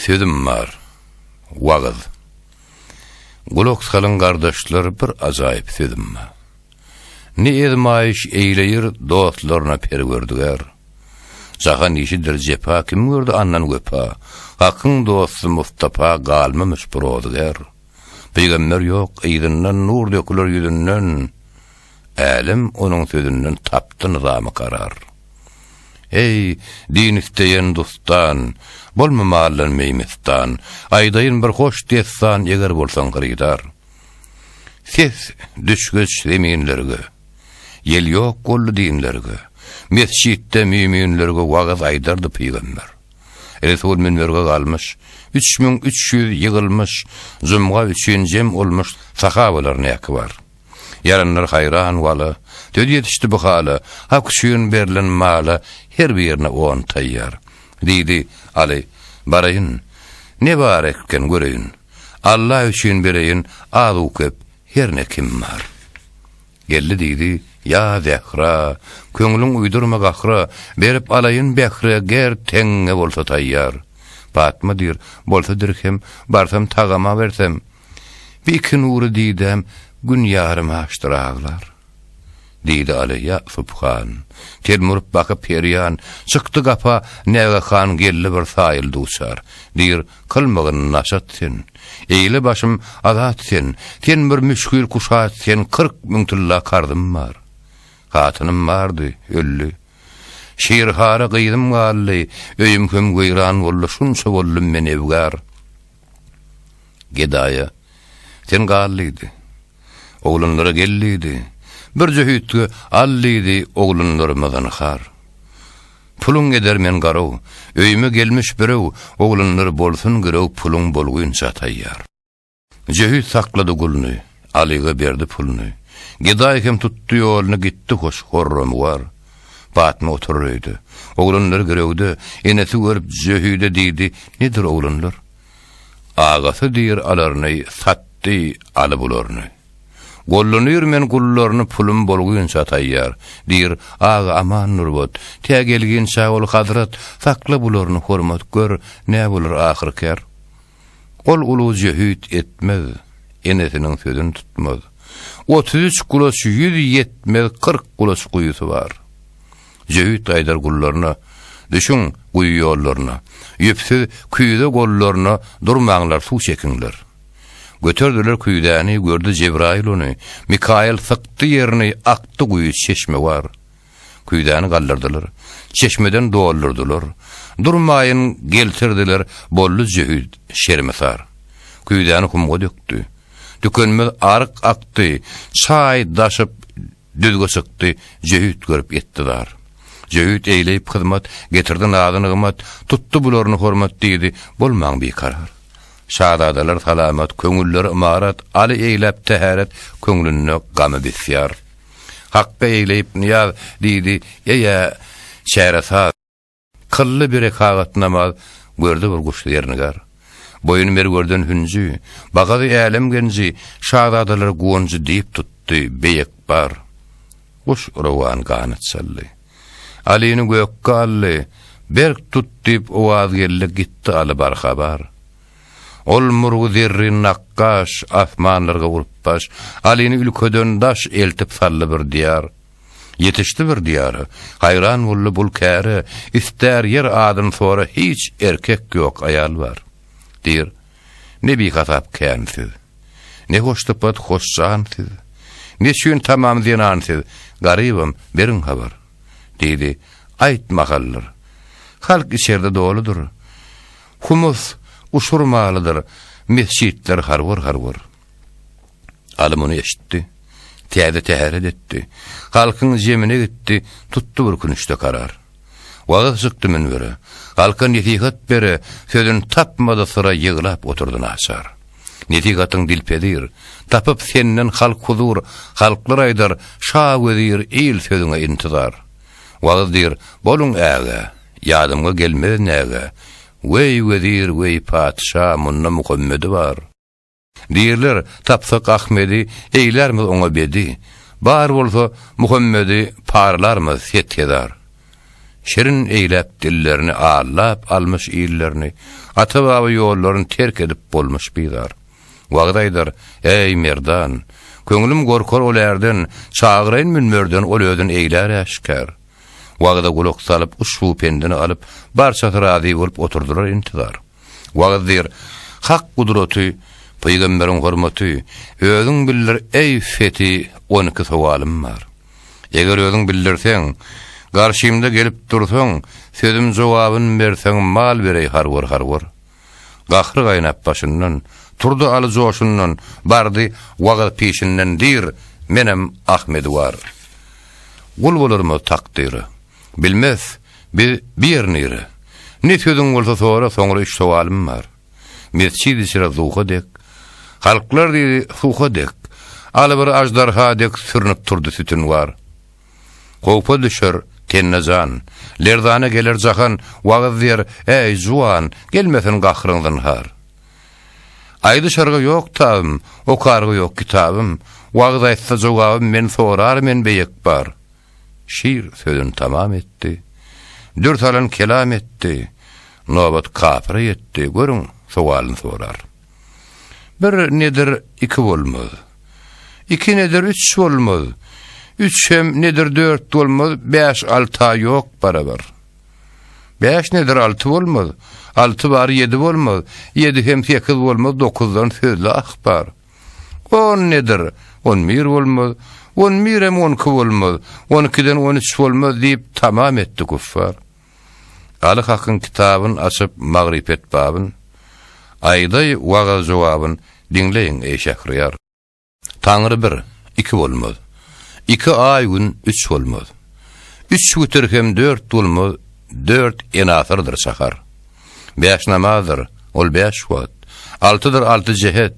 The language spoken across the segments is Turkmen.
Sözüm bar. Wagyz. Gulak salyň gardaşlar bir ajaýyp sözüm bar. Ne ezmaýyş eýleýir dostlaryna perwerdigär. Jahan işidir jepa kim gördi andan wepa, Hakyň dosty Mustapa galmamyş bir ozgär. Pygamber ýok yzyndan nur döküler ýüzünden. Älem onuň sözünden tapdy nyzamy karar. Eý, din isleýen dustan, Bolma maldan meýmistan, Aýdaýyn bir hoş dessan, Eger bolsaň hyrydar. Ses düşgeç zeminlerge, Ýel ýok boldy dinlerge, Mesjitde müýminlerge Wagyz aýdardy pygamber. Resul münberge galmyş, Üç müň üç ýüz ýygylmyş, Jumga üçin jem olmyş, Sahabalar näki bar. Ýaranlar haýran wala, Döz ýetişdi bu hala, Hak üçin berlen mala, Her birine on taýýar. Diýdi, Aly, baraýyn, Ne bar ekgen, göreýin. Alla üçin bereýin, Az-u-köp, her ne kim bar. Geldi diýdi, Ýa Zähra, Köňlüň uýdurma gahra, Berip alaýyn Bähre, Ger teňňe bolsa taýýar. Patma diýr, Bolsa dirhem, Barsam tagama bersem, Bir iki nury didäm gün ýarym açdyr aglar. Diýdi Aly Ýusup han. Telmi urup bakyp Perýan, çykdy gapa Näge han geldi bir saýyl duçar. Diýr, kylmygyn naşat sen. Eýle başym azat sen. Sen bir müşgil kuşat sen kyrk müň tylla karzym bar. Hatynym bardy, öldi. Şirhara gyzym galdy, öýüm hem weýran boldy şunça boldum men ewgar. Gedaýa, Sen gal diýdi. Oglanlara gel diýdi. Birje hüýtge al diýdi oglanlaryma zynhar. Puluň eder men garow, öýüme gelmiş birew, oglanlar bolsun girew puluň bolgunça taýýar. Jöhit saklady gulny, Alyga berdi puluny. Gedaý hem tutdy ýoluny gitdi hoş horramy bar. Patma oturar öýde. Oglanlar girewde, enesi görüp Jöhide diýdi, Nedir oglanlar? Agasy diýr alaryny satdy aly bularyny. Gollanýr men gullaryny pulum bolgunça taýýar, diýr, Aga aman nurbat, tä gelginçä ol hazrat, sakla bularyny hormat gör, nä bolar ahyrkär. Ol uly jöhit etmez, enesiniň sözüni tutmaz. Otuz üç gulaç ýüz ýetmez, kyrk gulaç guýusy bar. Jöhit aýdar gullaryna, Düşüň guýy ýollaryna, ýüpsüz küýze gollaryna durmaňlar, suw çekiňler. Göterdiler küýzäni, gördi Jebraýyl ony, Mikaýyl sykdy ýerini, akdy guýy, çeşme bar. Küýzäni galdyrdylar. Çeşmeden doldurdylar. Durmaýyn geltirdiler bolly jöhit, şermisar. Küýzäni humga dökdi. Tükenmez aryk akdy, çaý daşyp düzge çykdy, jöhit görüp etdi zar. Jöhit eýleýip hyzmat, getirdi nazy-nygmat, tutdy bularyny hormat diýdi, bolmaň bikarar. Şazadalar salamat, köňülleri ymarat, Aly eýläp tähäret, köňlünde gamy bisýar. Hakda egleýip nyýaz, diýdi, Eý-ä, çäresaz! Kylly biri kagat namaz, Gördi bir guşdy ýernigar. Boýun merwerden hünji, Bagady älem genji, Şazadalar guwanjy Diýip tutdy beýek bar. Guş rowan ganat çaldy. Alyny gökge aldy, Berk tut diýip owaz geldi, Gitdi Aly barhabar. Ol murgy zerrin nakgaş, Asmanlarga urup baş, Alyny ülkeden daş, Eltip saldy bir diýar. Ýetişdi bir diýara, Haýran boldy bul käre, Istär ýer adyn sora, Hiç erkek ýok, aýal bar. Diýr, Ne bihasap kän siz, Ne hoşsypat hoş jan siz, Neçün tamam zenan siz, Garybym, beriň habar. Diýdi, Aýt mahaldyr. Halk içerde doludyr. Humus uçurmalydyr mesjitler harwar-harwar. Aly muny eşitdi. Täze täret etdi. Halkyň jemine gitdi, tutdy bir künüşde karar. Wagyz çykdy münbere. Halka nesihat bere, sözün tapmady syra ýyglap oturdy naçar. Nesihatyň dilpezir, tapyp senden halk huzur, halklar aýdar, şa wezir, il sözüňe intizar. Wagyz diýr, Boluň ägä, ýadymga gelmez nägä, Weý, wezir, weý, patyşa, munda Muhammedi bar. Diýrler, Tapsak Ahmedi, eýlärmiz oňa bedi, Bar bolsa, Muhammedi, paralarmyz set-hezar. Şirin eýläp dillerini, allap almyş illerini, Ata-baba ýollaryny terk edip bolmyş bizar. Wagyz aýdar, Äý, Merdan! Köňlüm gorkar ol ärden, Çagyraýyn münberden ol özün eýlär äşgär. Wagyza gulak salyp, uşbu pendini alyp, barçasy razy bolup oturdylar intizar. Wagyz diýr, Hak gudraty, pygamberiň hormaty, özüň bildir, äý, Feti, on iki sowalym bar. Eger özüň bildirseň, garşymda gelip dursaň, sözüm jogabyn berseň, mal bereý harwar-harwar. Gahry gaýnap başyndan Turdy Aly joşundan Bardy wagyz pişinden Dir, menem Ahmedi war. Gul bolarmyz takdyra Bilmez biz bi ýer nire Ne sözüň bolsa sora Soňra üç sowalym bar Mesjid içre zuha dek Halklar diýdi suha dek Aly bir ajdarha dek Sürnüp turdy sütün war. Howpa düşer tenne jan, Lerzana geler jahan, Wagyz ber, äý, juwan, Gelmesin gahryň zynhar. Aýdyşarga ýok tabym, Okarga ýok kitabym, Wagyz aýtsa jogabym Men sorar men beýek bar. Şir sözün tamam etdi, Dür salan kelam etdi, Nobat kapyra ýetdi, Görüň, sowalyn sorar. Bir nedir iki bolmaz. Iki nedir üç bolmaz. Üç hem nedir dört bolmaz, bäş alta ýok barabar. Bäş nedir altı bolmaz. Altı bar ýedi bolmaz. Ýedi hem sekiz bolmaz, dokuzdan sözli ahbar. On nedir? On bir bolmaz. On bir hem on iki bolmaz. On ikiden on üç bolmaz diýip tamam etdi kuffar. Aly Hakyň kitabyn açyp magrypet babyn, Aýdaý wagaz jogabyn, diňleýin eý şähriýar. Taňry bir, iki bolmaz. Iki aý gün, üç bolmaz. Üç witir hem dört bolmaz, Dört enasyrdyr sahar. Bäş namazdyr, ol bäş wagt, Altydyr alty jehet,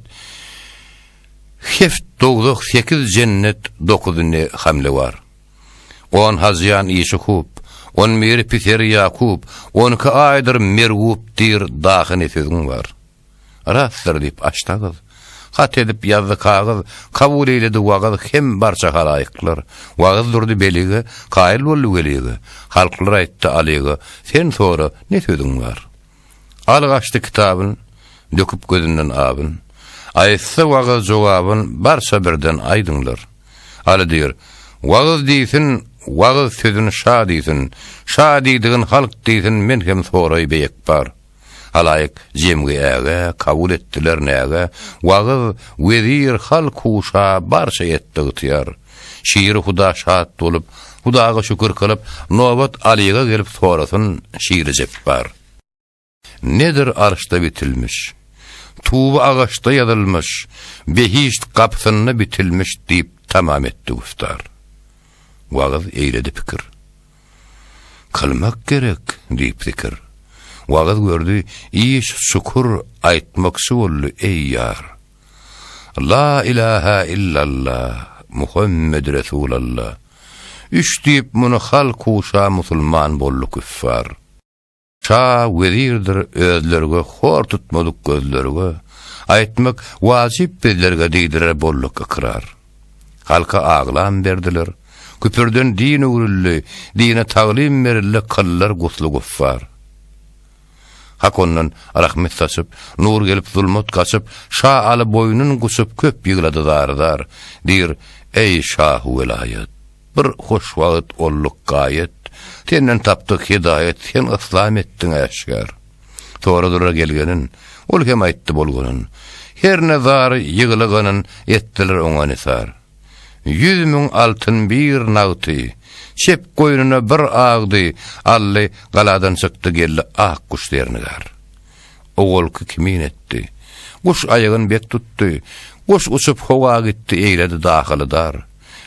Heft dowzah, sekiz jennet, Dokuz ne hamle bar. On hazyýan işi hup, On biri piseri Ýakup, On iki aýdyr merwup diýr Dahy ne sözüň bar? Rastdyr diýip açdy agyz, Hat edip ýazdy kagyz, Kabul eýledi wagyz Hem barça halaýyklar. Wagyz durdy belige, Kaýyl boldy welige, Halklar aýtdy alige, Sen sora, ne sözüň bar? Al gaçdy kitabyn, Döküp gözünden abyn. Aýtsa wagyz jogabyn, Barça birden aýdyňlar. Aly diýr, Wagyz diýsin, Wagyz sözün şa diýsin, Şa diýdigin halk diýsin, Men hem soraý beýekbar. Halaýyk jemgi äge, Kabul etdiler näge? Wagyz, wezir, halk-u şa Barça etdi ygtyýar. Şir huda şat bolup, hudaga şükür kylyp, nobat Alyga gelip sorasyn, Şiri jepbar! Nedir arşda bitilmiş, tuby agaçda ýazylmyş, behişt gapysynda bitilmiş diýip tamam etdi güftar. Wagyz eýledi pikir. Kylmak gerek, diýip zikir. Wagyz gördi, iş çukur, aýtmakçy boldy, eý ýar! La ilaha illalla, Muhammed Resulalla. Üç diýip muny hal kuşa musulman boldy küffar. Şa wezirdir özlerge hor tutmadyk gözlerge, aýtmak wajyp bizlerge diýdiler bolduk ykrar. Halka aglam berdiler, küpürden din öwrüldi, dine taglym berildi kyllar gusly guffar. Hak ondan rahmet saçyp, nur gelip zulmat gaçyp, şa Aly boýnun guçup köp ýyglady zar-zar. Diýr, Eý, şahu welaýat! Bir hoş wagt olduk gaýet, senden tapdyk hidaýat, sen yslam etdiň äşgär. Soradylar gelgenin, ol hem aýtdy bolganyn. Her ne zar ýyglyganyn, etdiler oňa nisar. Ýüz müň altyn bir nagty, Çep goýnuna bir agdy Ally galadan çykdy Geldi ak guş zernigar. Owalky kimin etdi. Guş aýagyn bek tutdy. Guş uçup howa gitdi Eýledi dahyly dar.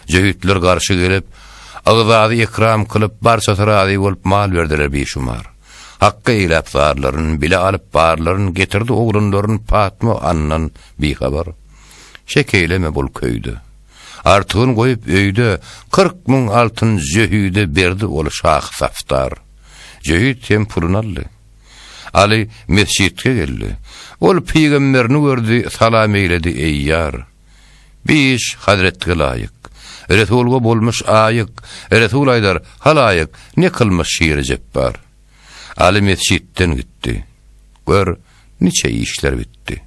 Jöhitler garşy gelip, Ygzady ekram kylyp Barçasy razy bolup Mal berdiler bişumar. Hakga eýläp zarlaryn Bile alyp barlaryn Getirdi oglanlaryn Patma andan bihabar. Şek eýleme bul köýde. Artygyny goýup öýde, Kyrk müň altyn Jöhüde berdi ol şahy safdar. Jöhüt hem puluny aldy. Aly mesjitge geldi. Ol pygamberini gördi, salam eýledi, Eý ýar! Bi iş hazretge laýyk. Resulga bolmuş aýyk, Resul aýdar, halaýyk, Ne kylmyş şiri jepbar. Aly mesjitden gitdi. Gör, Niçe işler bitdi.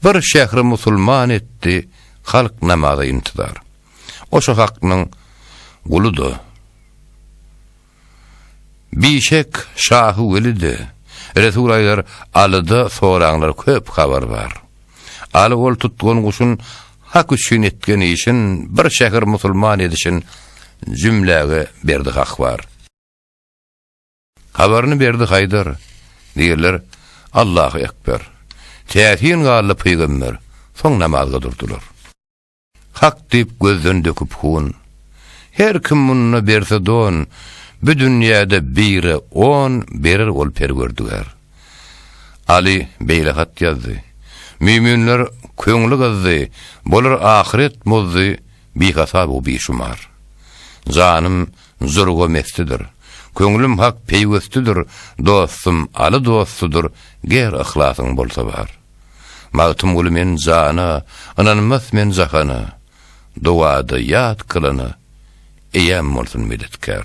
Bir şähri musulman etdi, halk namaza intizar. O şo haknyň guly-da. Bişek şahy weli-de. Resul aýdar, Alyda soraňlar köp habar bar. Aly ol tutgan guşun hak üçin etgen işin, bir şähir musulman edişin jümläge berdi hak bar. Habaryny berdi Haýdar. Diýerler, Allahu ekber. Täsin galdy pygamber. Soň namazga durdular. Hak diýip gözden döküp hun. Her kim munda berse don, bu dünýäde bire on berer ol perwerdigär. Ali beýle hat ýazdy. Müminler köňli gyzdy, bolar ahyret muzdy. bihasap u bişumar. Janym zurga mestidir, Köňlüm hak peýwestidir, Dostum Aly dostudyr, Ger yhlasyň bolsa bar. Magtymguly men jana, Ynanmas men jahana, Dowada ýat kylana, Eýäm bolsun medetkär.